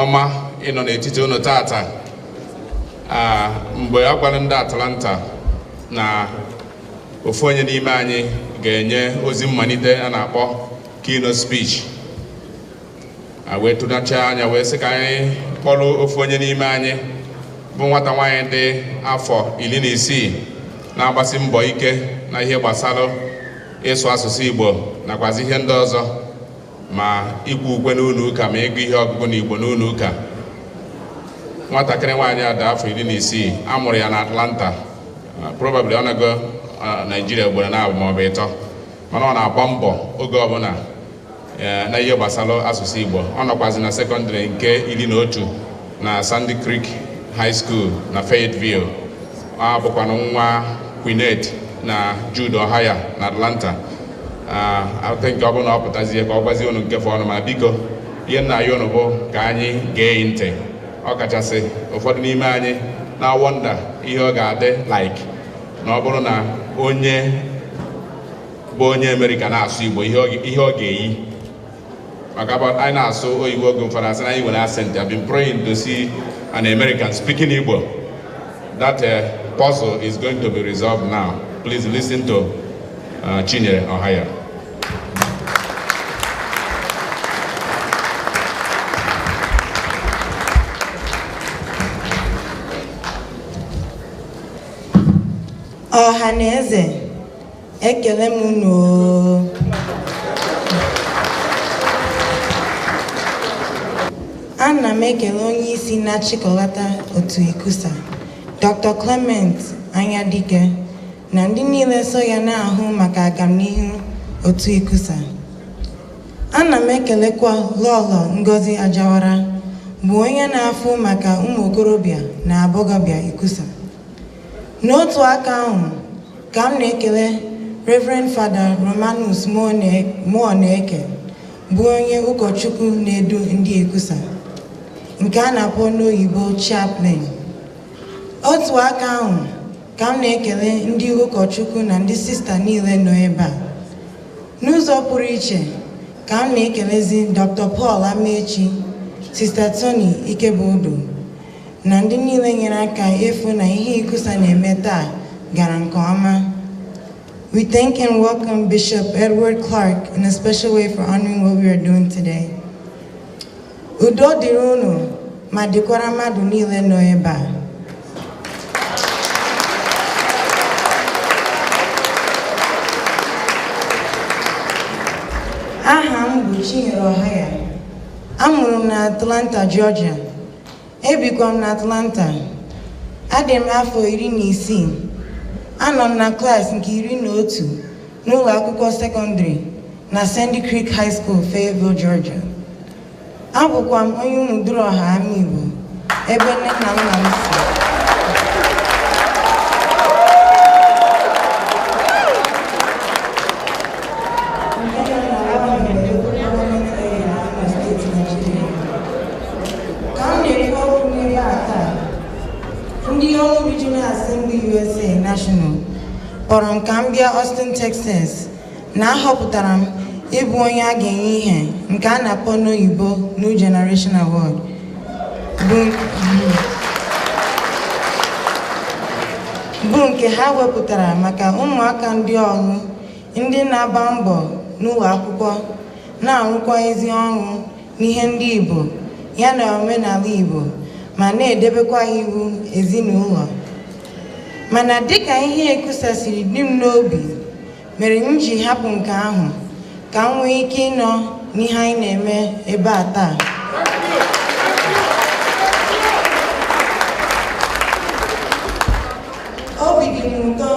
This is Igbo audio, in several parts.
ọma ịnọ n'etiti unu taata mgbe a gwara ndị Atlanta na ofu onye n'ime anyị ga-enye ozi mmalite a na-akpọ keynote speech wee tụnacha anya wee sị ka anyị kpọrọ ofu onye n'ime anyị bụ nwata nwaanyị dị afọ iri na isii na-agbasi mbọ ike na ihe gbasara ịsụ asụsụ Igbo nakwazi ihe ndị ọzọ ma ikwu ukwe n'ụlọ ụka ma ịgụ ihe ọgụgụ na igbo n'ụlọ ụka nwatakịrị nwaanyị a dị afọ iri na isii a mụrụ ya na atlanta uh, probably ọ nago uh, naijiria ugboro naabọ maọbụ ịtọ mana ọ na-agba mbọ oge ọbụla uh, na ihe gbasara asụsụ igbo ọ nọkwazi na sekọndịrị nke iri na otu na Sandy Creek High School na Fayetteville ọ bụkwanụ nwa Queenette na Jude Ohaya na Atlanta I think ọ bụrụ na ọ pụtazie ka ọ gwazie unu nke fọọnụ ma biko ihe m na-ayọ unu bụ ka anyị gee ntị ọ kachasị ụfọdụ n'ime anyị na-awọnda ihe ọ ga-adị like na ọ bụrụ na onye bụ onye Amerịka na-asụ Igbo ihe ọ ga-eyi maka bụ anyị na-asụ oyibo oge ụfọdụ a sị na anyị nwere accent I've been praying to see an American speaking Igbo that uh, puzzle is going to be resolved now please listen to uh, Chinyere Ohaya ọha na eze ekele m unu oo. ana m ekele onye isi na-achịkọlata otu ikusa dr clement anyadike na ndị niile so ya na-ahụ maka agamnihu otu ikusa ana m ekelekwa lọlọ ngozi ajawara bụ onye na-afụ maka ụmụ okorobịa na agbọghọbịa ikusa n'otu aka ahụ ka m na-ekele Reverend Fada Romanus Muoneke bụ onye ụkọchukwu na-edu ndị ikusa nke a na-akpọ n'oyibo chaplain otu aka ahụ ka m na-ekele ndị ụkọchukwu na ndị sista niile nọ ebe a n'ụzọ pụrụ iche ka m na-ekelezi Dr. Paul Amaechi Sista Tony Ikebudu na ndị niile nyere aka ịfụ na ihe ICCUSA na-eme taa gara nke ọma. We thank and welcome Bishop Edward Clark in a special way for honoring what we are doing today. Udo dịrị unu ma dịkwara mmadụ niile nọ ebe a. Aha m bụ Chinyere Ohaya. Amụrụ m na Atlanta, Georgia. Ebikwa m n'Atlanta. Adị m afọ iri na isii. Anọ m na klaasị nke iri na otu n'ụlọ akwụkwọ sekọndịrị na Sandy Creek High School, Fayetteville, Georgia. Abụkwa m onye Umuduruoha Amaigbo ebe nne na nna m si. ka m na-ekwu okwu n'ebe a taa ndị Orlu Regional Assembly USA National kpọrọ m ka m bịa Austin Texas na a họpụtara m ịbụ onye a ga-enye ihe nke a na-akpọ n'oyibo New Generation Award bụ bụ nke ha wepụtara maka ụmụaka ndị Orlu ndị na-agba mbọ n'ụlọ akwụkwọ na-arụkwa ezi ọrụ n'ihe ndị Igbo ya na omenala Igbo ma na-edebekwa iwu ezinụlọ mana dịka ihe ICCUSA siri dị m n'obi mere m ji hapụ nke ahụ ka m nwee ike ịnọ n'ihe anyị na-eme ebe a taa obi dị m ụtọ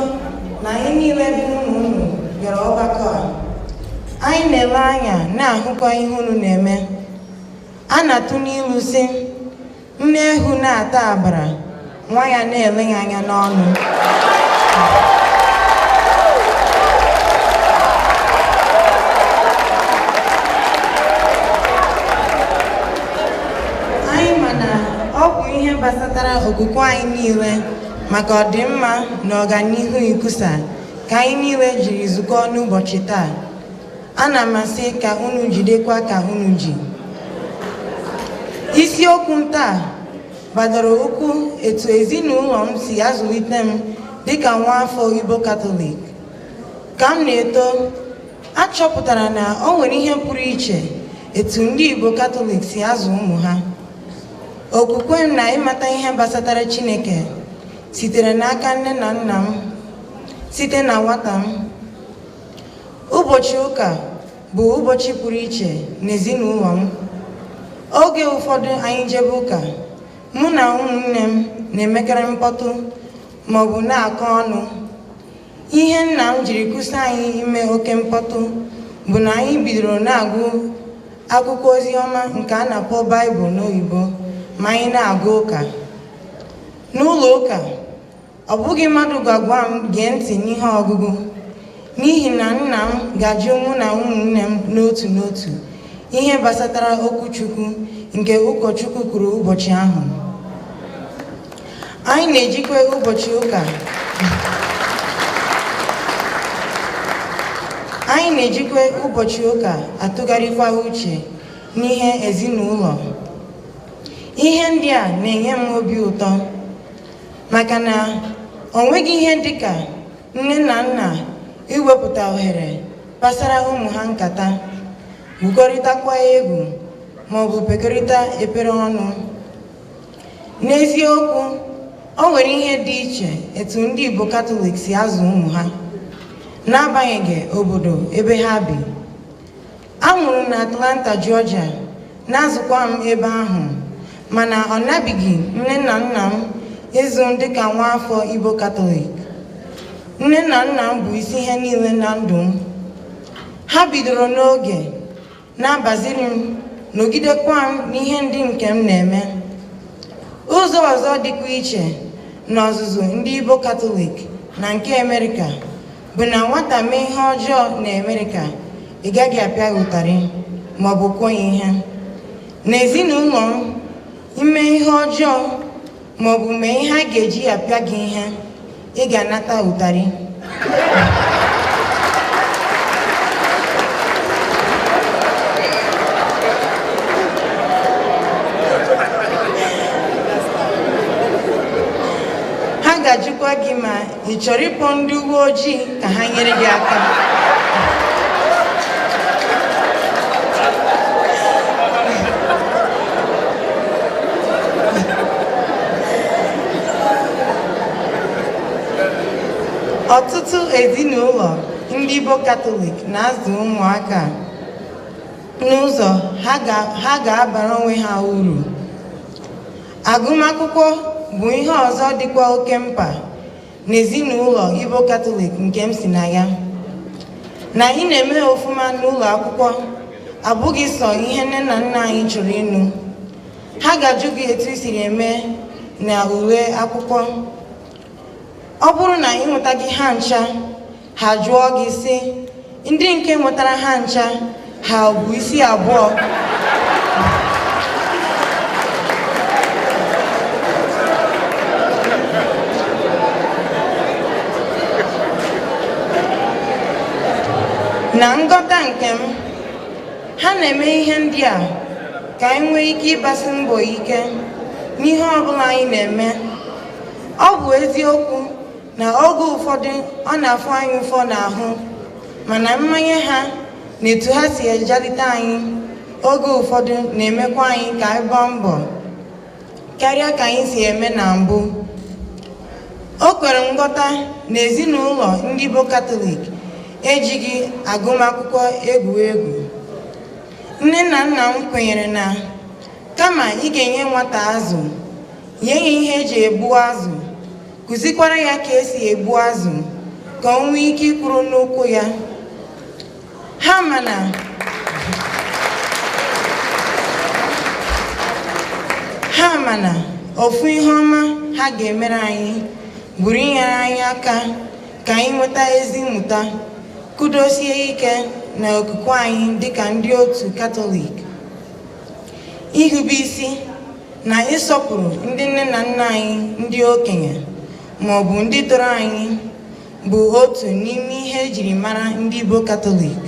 na anyị niile bụ ụmụ unu bịara ọgbakọ a Anyị na-ele anya na-ahụkwa ihe unu na-eme. A na-atụ n'ilu sị, nne eghu na-ata agbara, nwa ya na-ele ya anya n'ọnụ. Anyị ma na ọ bụ ihe gbasatara okwukwe anyị niile maka ọdịmma na ọganihu ICCUSA ka anyị niile jiri zukọọ n'ụbọchị taa ana m asị ka unu jidekwa ka unu ji isiokwu m taa gbadoro ụkwụ etu ezinụlọ m si azụlite m dịka nwa afọ Igbo Katọlik ka m na-eto achọpụtara na ọ nwere ihe pụrụ iche etu ndị Igbo Katọlik si azụ ụmụ ha okwukwe m na ịmata ihe gbasatara Chineke sitere n'aka nne na nna m site na nwata m ụbọchị ụka bụ ụbọchị pụrụ iche n'ezinụlọ m oge ụfọdụ anyị jebe ụka mụ na ụmụnne m na-emekarị mkpọtụ maọbụ na-akọ ọnụ ihe nna m jiri kwụsị anyị ime oke mkpọtụ bụ na anyị bidoro na-agụ akwụkwọ ozi ọma nke a na-akpọ baịbụl n'oyibo ma anyị na-agụ ụka n'ụlọ ụka Ọ bụghị mmadụ ga-agwa m gee ntị n'ihe ọgụgụ, n'ihi na nna m ga-ajụ mụ na ụmụnne m n'otu n'otu ihe gbasatara okwu Chukwu nke ụkọchukwu kwuru ụbọchị ahụ. Anyị na-ejikwa ụbọchị ụka atụgharịkwa uche n'ihe ezinụlọ. Ihe ndị a na-enye m obi ụtọ. maka na o nweghị ihe dịka nne na nna iwepụta ohere kpasara ụmụ ha nkata gwukọrịtakwa egwu maọbụ kpekọrịta ekpere ọnụ n'eziokwu o nwere ihe dị iche etu ndị Igbo Katọlik si azụ ụmụ ha n'agbanyeghị obodo ebe ha bi A mụrụ m na Atlanta, Georgia, na-azụkwa m ebe ahụ, mana ọ nabighị nne na nna m ịzụ m dịka nwa afọ Igbo Katọlik. Nne na nna m bụ isi ihe niile na ndụ m. Ha bidoro n'oge na-abaziri m nọgidekwa m n'ihe ndị nke m na-eme. Ụzọ ọzọ dịkwa iche n'ọzụzụ ndị Igbo Katọlik na nke Amerịka. bụ na nwata mee ihe ọjọọ na Amerịka ị gaghị apịa ya ụtarị ma ọ bụ kụọ ya ihe n'ezinụlọ m ime ihe ọjọọ ma ọ bụ mee ihe a ga-eji apịa gị ihe ị ga-anata ụtarị ha ga-ajụkwa gị ma ị chọrọ ịkpọ ndị uwe ojii ka ha nyere gị aka ọtụtụ ezinụlọ ndị Igbo Katọlik na-azụ ụmụaka n'ụzọ ha ga-abara onwe ha uru Agụmakwụkwọ bụ ihe ọzọ dịkwa oke mkpa n'ezinụlọ Igbo Katọlik nke m si na ya. Na anyị na-eme ọfụma n'ụlọ akwụkwọ abụghị sọ ihe nne na nna anyị chọrọ ịnụ. Ha ga-ajụ gị etu i siri eme na ule akwụkwọ. Ọ bụrụ na ị nwetaghị ha ncha, ha jụọ gị sị ndị nke nwetara ha ncha ha bu isi abụọ na ngọta nke m ha na-eme ihe ndị a ka anyị nwee ike ịgbasi mbọ ike n'ihe ọbụla anyị na-eme ọ bụ eziokwu na oge ụfọdụ ọ na-afụ anyị ụfụ n'ahụ mana mmanye ha na etu ha si ejalite anyị oge ụfọdụ na-emekwa anyị ka anyị gbaa mbọ karịa ka anyị si eme na mbụ o kwere nghọta na ezinụlọ ndị bụ katọlik ejighị agụmakwụkwọ egwu egwu nne na nna m kwenyere na kama ị ga-enye nwata azụ nye ya ihe eji egbu azụ kụzikwara ya ka esi egbu azụ ka o nwee ike ịkwụrụ n'ụkwụ ya ha ma na ha ma na ofu ihe ọma ha ga-emere anyị bụrụ inyere anyị aka ka anyị nweta ezi mmụta kudosie ike na okwukwe anyị dịka ndị otu katọlik irube isi na ịsọpụrụ ndị nne na nna anyị ndị okenye ma ọ bụ ndị tọrọ anyị bụ otu n'ime ihe ejiri mara ndị Igbo Katọlik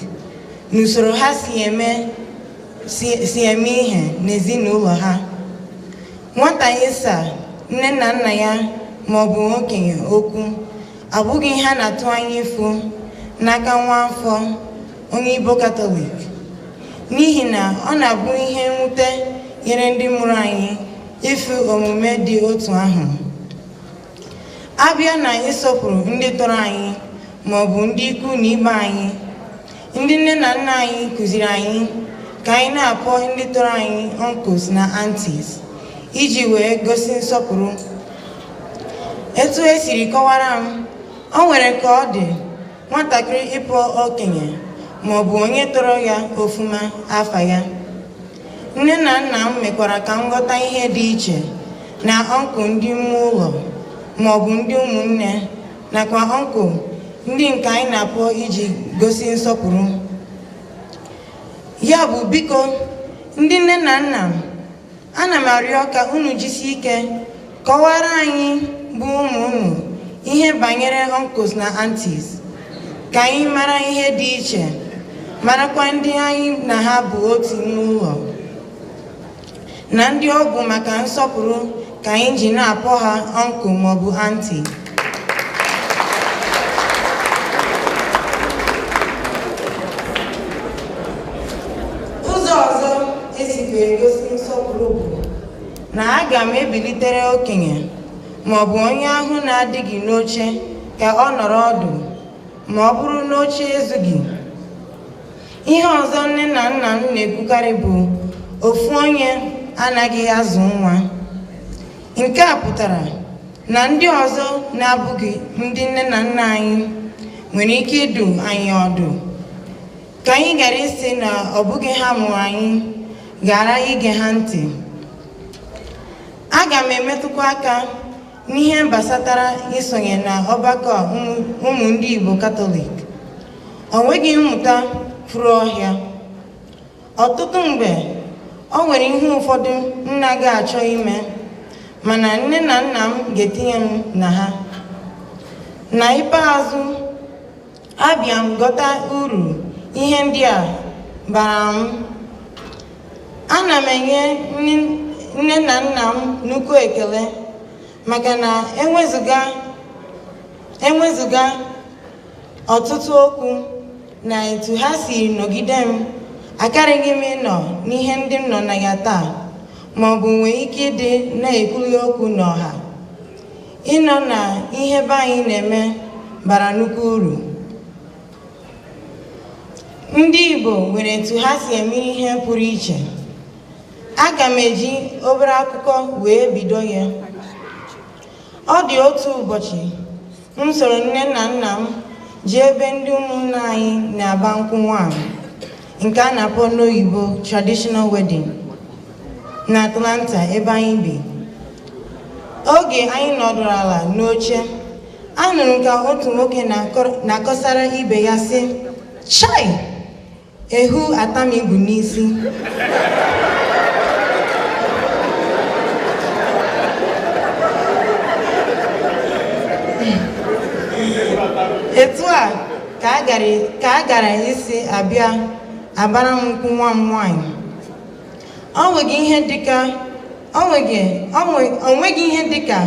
n'usoro ha si eme si eme ihe n'ezinụlọ ha nwata ịsa nne na nna ya ma ọ bụ okenye okwu abụghị ihe a na-atụ anya ịfụ n'aka nwa afọ onye Igbo Katọlik n'ihi na ọ na-abụ ihe mwute nyere ndị mụrụ anyị ịfụ omume dị otu ahụ a bịa na ịsọpụrụ ndị tọrọ anyị ma ọ bụ ndị ikwu na ibe anyị ndị nne na nna anyị kụziri anyị ka anyị na-akpọ ndị tọrọ anyị uncles na aunties iji wee gosi nsọpụrụ etu esiri kọwara m o nwere ka ọ dị nwatakịrị ịkpọ okenye ma ọ bụ onye tọrọ ya ọfụma afa ya nne na nna m mekwara ka m ghọta ihe dị iche na uncle ndị ime ụlọ ma ọ bụ ndị ụmụnne nakwa uncle ndị nke anyị na-akpọ iji gosi nsọpụrụ ya bụ biko ndị nne na nna m ana m arịọ ka unu jisie ike kọwara anyị bụ ụmụ unu ihe banyere uncles na aunties ka anyị mara ihe dị iche marakwa ndị anyị na ha bụ otu n'ụlọ na ndị ọ bụ maka nsọpụrụ ka anyị ji na-akpọ ha uncle maọbụ aunty ụzọ ọzọ e sikwa egosi nsọpụrụ bụ na aga m ebilitere okenye ma ọ bụ onye ahụ na-adịghị n'oche ka ọ nọrọ ọdụ ma ọ bụrụ na oche ezughị ihe ọzọ nne na nna m na-ekwukarị bụ ofu onye anaghị azụ nwa nke a pụtara na ndị ọzọ na-abụghị ndị nne na nna anyị nwere ike ịdụ anyị ọdụ ka anyị ghara ịsị na ọ bụghị ha mụrụ anyị ghara ige ha ntị aga m emetụkwa aka n'ihe gbasatara isonye na ọgbakọ ụmụ ndị Igbo Katọlik o nweghị mmụta furu ọhịa ọtụtụ mgbe o nwere ihe ụfọdụ m na-anaghị achọ ime mana nne na nna m ga-etinye m na ha na ikpeazụ abịa m ghọta uru ihe ndị a bara m ana m enye nne na nna m nnukwu ekele maka na ewezuga ewezuga ọtụtụ okwu na etu ha si nọgide m akaraghị m ịnọ n'ihe ndị m nọ na ya taa ma ọ bụ nwee ike ịdị na-ekwuli okwu n'ọha ịnọ na ihe be anyị na-eme bara nnukwu uru ndị Igbo nwere etu ha si eme ihe pụrụ iche aga m eji obere akụkọ wee bido ya ọ dị otu ụbọchị m soro nne na nna m jee ebe ndị ụmụnna anyị na-agba nkwụ nwaanyị nke a na-akpọ n'oyibo traditional wedding na Atlanta ebe anyị bi oge anyị nọdụrụ ala n'oche anụrụ m ka otu nwoke na-akọsara ibe ya sị chai Ewu ataa m igu n'isi. Etu a ka a gara isi abịa agbara m nkwụ nwa m nwaanyị. O nweghị ihe dịka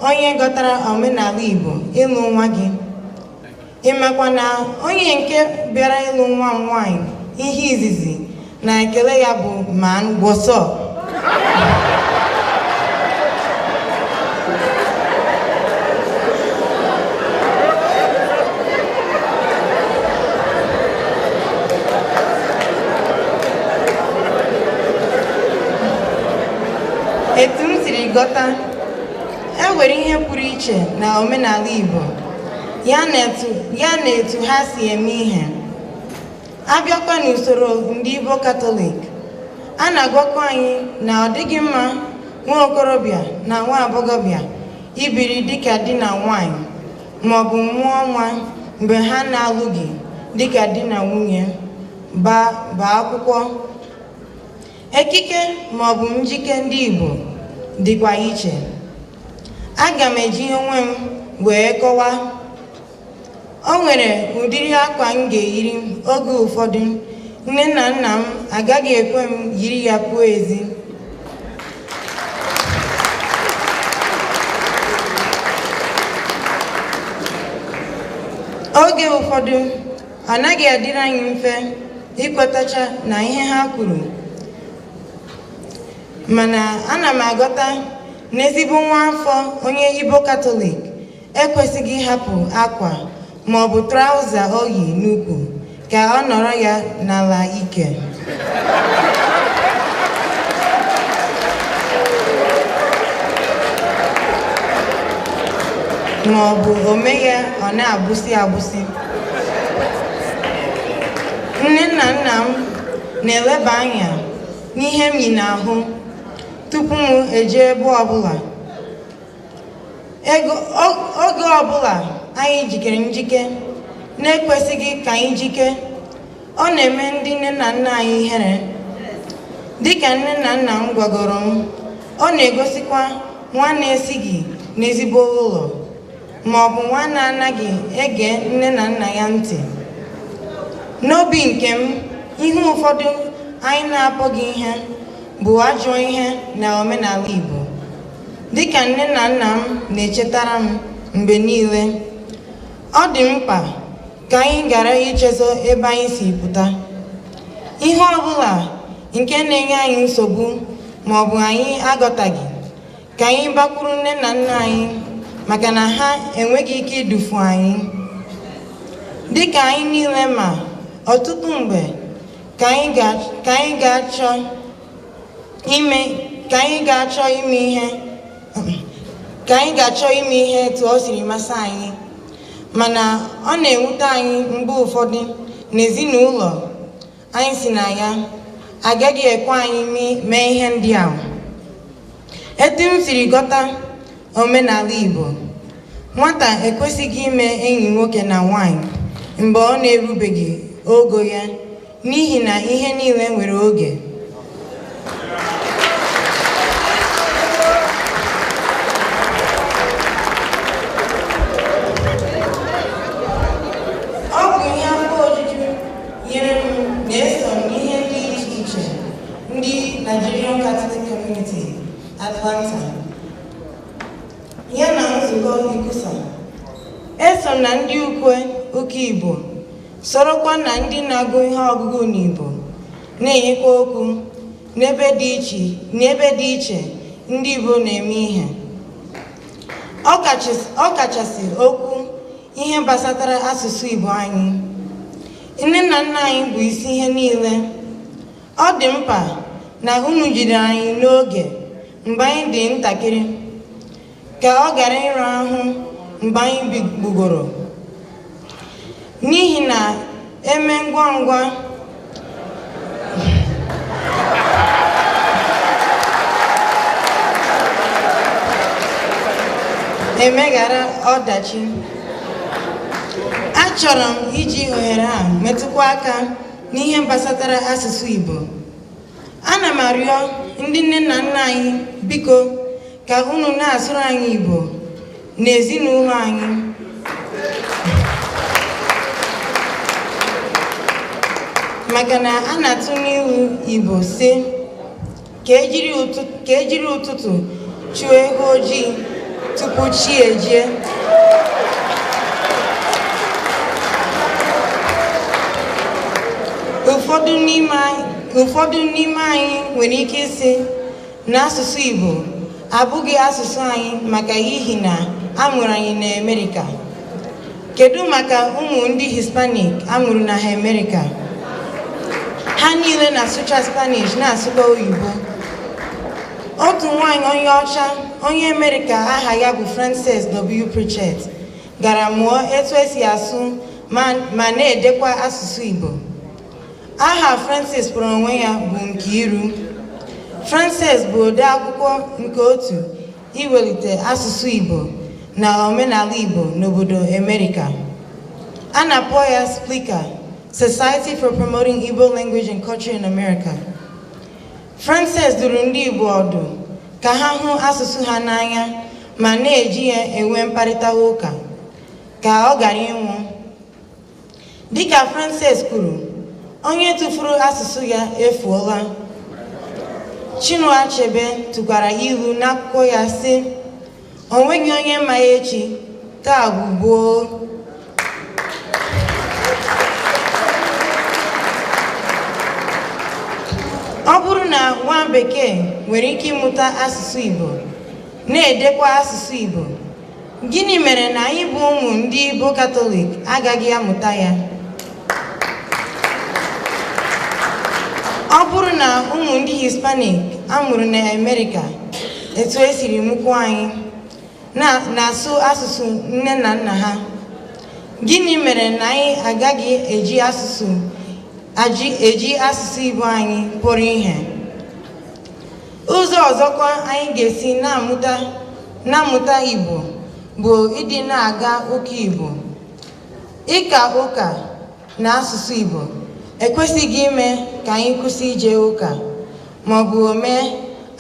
onye ghọtara omenala Igbo ịlụ nwa gị. ị makwa na onye nke bịara ịlụ nwa m nwaanyị ihe izizi na ekele ya bụ man what's up etu m siri ghọta e nwere ihe pụrụ iche na omenala Igbo ya na etu ha si eme ihe abịakwa n'usoro ndị Igbo Katọlik a na-agwakwa anyị na ọ dịghị mma nwa okorobịa na nwa agbọghọbịa ibiri dịka di na nwanyị maọbụ mụọ nwa mgbe ha na-alụghị dịka di na nwunye gbaa akwụkwọ ekike maọbụ njike ndị Igbo dịkwa iche aga m eji onwe m wee kọwa o nwere ụdịrị akwa m ga-eyiri oge ụfọdụ nne na nna m agaghị ekwe m yiri ya pụọ ezi oge ụfọdụ ọ naghị adịrị anyị mfe ikwetacha na ihe ha kwuru mana ana m aghọta N'ezigbo nwa afọ onye Igbo Katọlik ekwesịghị ịhapụ akwa ma ọ bụ traụza o yi n'ukwu ka ọ nọrọ ya n'ala ike. Ma ọ bụ o mee ya ọ na-agbụsị agbụsị. Nne na nna m na-eleba anya n'ihe m yi n'ahụ tupu m eje ebe ọbụla oge ọbụla anyị jikere njike na-ekwesịghị ka anyị jike ọ na-eme ndị nne na nna anyị ihere dịka nne na nna m gwagoro m ọ na-egosikwa nwa na-esighị n'ezigbo ụlọ ma ọ bụ nwa na-anaghị ege nne na nna ya ntị n'obi nke m ihe ụfọdụ anyị na-akpọghị ihe bụ ajọ ihe na omenala Igbo dịka nne na nna m na-echetara m mgbe niile ọ dị mkpa ka anyị ghara ichezọ ebe anyị si pụta ihe ọ bụla nke na-enye anyị nsogbu ma ọ bụ anyị aghọtaghị ka anyị gbakwuru nne na nna anyị maka na ha enweghị ike idufu anyị dịka anyị niile ma ọtụtụ mgbe ka anyị ga-achọ ime ka anyị ga-achọ ime ihe ka anyị ga-achọ ime ihe etu ọ siri masị anyị mana ọ na-ewute anyị mgbe ụfọdụ na ezinụlọ anyị si na ya agaghị ekwe anyị mee ihe ndị ahụ etu m siri ghọta Omenala Igbo nwata ekwesịghị ime enyi nwoke na nwaanyị mgbe ọ na-erubeghị ogo ya n'ihi na ihe niile nwere oge Atlanta ya na nzukọ ICCUSA eso na ndị ukwe ụka Igbo sorokwa na ndị na-agụ ihe ọgụgụ n'Igbo na-enyekwa okwu n'ebe dị iche n'ebe dị iche ndị Igbo na-eme ihe ọ kachasị okwu ihe gbasatara asụsụ Igbo anyị nne na nna anyị bụ isi ihe niile Ọ dị mkpa na unu jide anyị n'oge mgbe anyị dị ntakịrị ka ọ ghara ịra ahụ mgbe anyị bigbugoro n'ihi na eme ngwa ngwa emeghara ọdachi achọrọ m iji ohere a metụkwa aka n'ihe gbasatara asụsụ Igbo ana m arịọ ndị nne na nna anyị biko ka unu na-asụrụ anyị Igbo n'ezinụlọ anyị maka na a na-atụ n'ilu Igbo sị ka ejiri ụtụtụ chụọ ewu ojii tupu chi ejie ụfọdụ n'ime anyị nwere ike ịsị na asụsụ Igbo abụghị asụsụ anyị maka ihi na a mụrụ anyị n'Amerika Kedu maka ụmụ ndị Hispanic a mụrụ na Amerịka? Ha niile na-asụcha Spanish na-asụkwa oyibo. Otu nwaanyị onye ọcha onye Amerịka aha ya bụ Frances W. Pritchett gara mụọ etu esi asụ ma na-edekwa asụsụ Igbo. Aha Frances kpọrọ onwe ya bụ Nkiru. Frances bụ ode akwụkwọ nke otu iwelite asụsụ Igbo na omenala Igbo n'obodo Amerika. A na-akpọ ya SPLICA, Society for Promoting Igbo Language and Culture in America. Frances duru ndị Igbo ọdụ ka ha hụ asụsụ ha n'anya ma na-eji ya enwe mkparịta ụka ka ọ ghara ịnwụ Dịka Frances kwuru, onye tụfuru asụsụ ya efuola. Chinua Achebe tụkwara ilu n'akwụkwọ ya sị, o nweghị onye ma echi, taa bụ gboo. Ọ bụrụ na nwa bekee nwere ike ịmụta asụsụ Igbo, na-edekwa asụsụ Igbo, Gịnị mere na anyị bụ ụmụ ndị bụ Katọlik agaghị amụta ya? Ọ bụrụ na ụmụ ndị Hispanik a mụrụ na Amerịka etu e siri mụkwuo anyị na-asụ asụsụ nne na nna ha, gịnị mere na anyị agaghị eji asụsụ eji asụsụ Igbo anyị kpọrọ ihe? Ụzọ ọzọkwa anyị ga-esi na-amụta na-amụta Igbo bụ ịdị na-aga ụka Igbo. Ịka ụka na asụsụ Igbo ekwesịghị ime ka anyị kwụsị ije ụka ma ọ bụ mee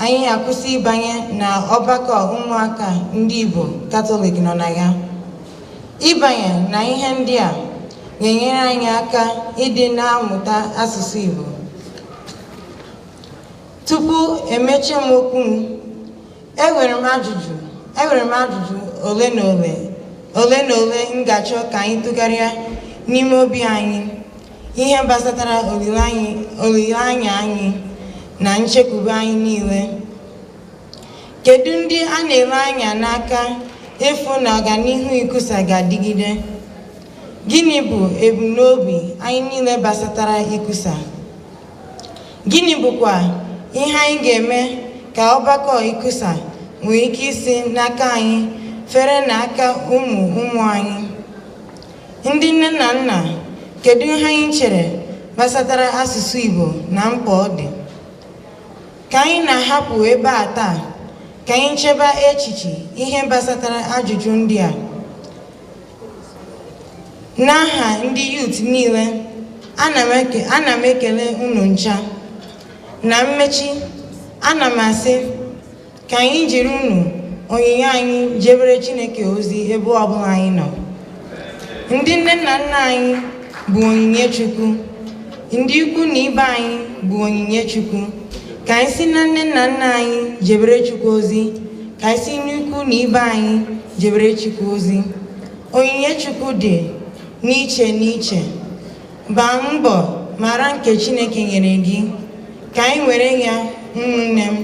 anyị akwụsị ịbanye na ọgbakọ ụmụaka ndị Igbo Katọlik nọ na ya. Ịbanye na ihe ndị a na-enyere anyị aka ịdị na-amụta asụsụ Igbo. Tupu emechie m okwu m, enwere m ajụjụ enwere m ajụjụ ole na ole ole na ole m ga-achọ ka anyị tụgharịa n'ime obi anyị ihe gbasatara olileanya anyị na nchekwube anyị niile. Kedu ndị a na-ele anya n'aka ịfụ na ọganihu ICCUSA ga-adịgide? Gịnị bụ ebumnobi anyị niile gbasatara ICCUSA? Gịnị bụkwa ihe anyị ga-eme ka ọgbakọ ICCUSA nwee ike isi n'aka anyị fere na aka ụmụ ụmụ anyị? Ndị nne na nna, kedu ihe anyị chere gbasatara asụsụ Igbo na mkpa ọ dị? Ka anyị na-ahapụ ebe a taa, ka anyị cheba echiche ihe gbasatara ajụjụ ndị a. N'aha ndị youth niile, ana m ekele unu ncha. Na mmechi, ana m asị ka anyị jiri unu onyinye anyị jebere Chineke ozi ebe ọbụla anyị nọ. Ndị nne na nna anyị bụ onyinye Chukwu. Ndị ikwu na ibe anyị bụ onyinye Chukwu. Ka anyị si na nne na nna anyị jebere Chukwu ozi, ka anyị si n'ikwu na ibe anyị jebere Chukwu ozi onyinye Chukwu dị n'iche n'iche gbaa mbọ mara nke Chineke nyere gị ka anyị were ya ụmụnne m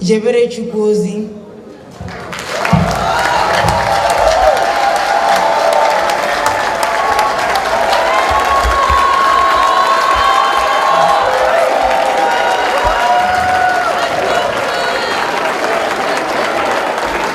jebere Chukwu ozi